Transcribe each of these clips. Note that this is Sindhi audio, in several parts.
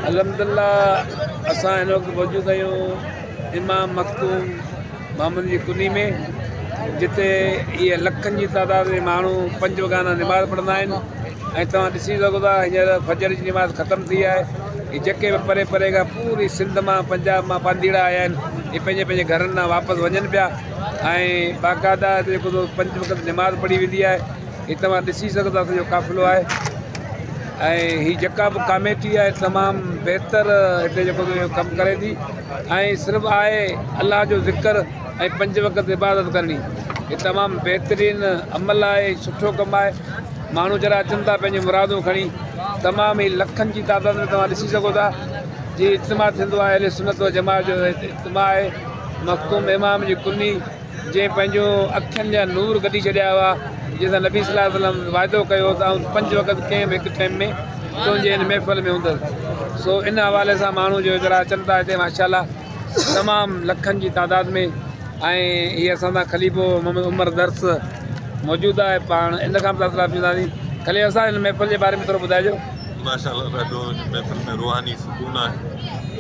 الحمدالله اسان هن وقت موجود آهيون امام مخدوم محمد جي ڪني ۾ جتي اهي لکن جي تعداد ۾ ماڻهو پنج وڳانا نماز پڙهندا آهن ۽ توهان ڏسي سگهو ٿا هينئر فجر جي نماز ختم ٿي آهي هي جيڪي به پري پري کان پوري سنڌ مان پنجاب مان پانڌيئڙا آيا آهن هي پنهنجي پنهنجي گهرن ڏانهن واپس وڃن پيا ۽ باقاعده هتي جيڪو پنج وقت نماز پڙهي ويندي آهي هي توهان ڏسي سگهو ٿا اسان جو قافلو آهي ۽ هي جيڪا به ڪاميٽي آهي تمام بهتر هتي جيڪو اهو ڪم ڪري ٿي ۽ صرف آهي الله جو ذڪر ۽ پنج وقت عبادت ڪرڻي هي تمام بهترين عمل آهي سٺو ڪم آهي ماڻهو جڏهن اچن ٿا پنهنجي مرادون کڻي تمام هي لکن جي تعداد ۾ توهان ڏسي سگهو ٿا جي اجتماع ٿيندو آهي اهل سنت و جماعت جو اجتماع آهي مخدوم امام جي ڪني جنهن پنهنجو اکين جا نور ڪڍي ڇڏيا هئا، جنهن سان نبي صلي الله عليه وسلم وعدو ڪيو هو ته آئون پنج وقت ڪنهن به هڪ ٽيم ۾ تنهنجي هن محفل ۾ هوندس. سو ان حوالي سان ماڻهو جو هيڪڙا اچن ٿا هتي ماشاء الله تمام لکن جي تعداد ۾ ۽ هي اسان سان خليفو محمد عمر درس موجود آهي پاڻ ان کان به تاثرات وٺنداسين خليفا صاحب هن محفل جي باري ۾ ٿورو ٻڌائجو. ماشاء الله ڏاڍو هن محفل ۾ روحاني سڪون آهي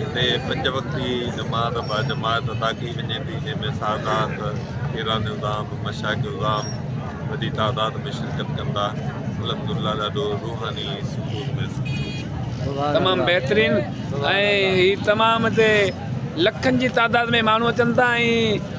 هتي پنج وقتي جماعت با جماعت ادا ڪئي وڃي ٿي جنهن ۾ سادات ايران الزام مشاق الزام وڏي تعداد ۾ شرڪت ڪن ٿا الحمد لله ڏاڍو روحاني سڪون محسوس تمام بهترين ۽ هي تمام هتي لکن جي تعداد ۾ ماڻهو اچن ٿا ۽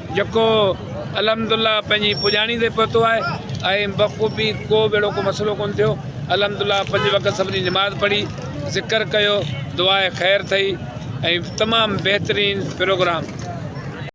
جيڪو الحمدالله پنهنجي پڄاڻي تي پهتو آهي ۽ بخوبي ڪو به اهڙو ڪو مسئلو ڪونه ٿيو الحمدالله پنج وقت سڀني نماز پڙهي ذڪر ڪيو دعاء خير ٿئي ۽ تمام بهترين پروگرام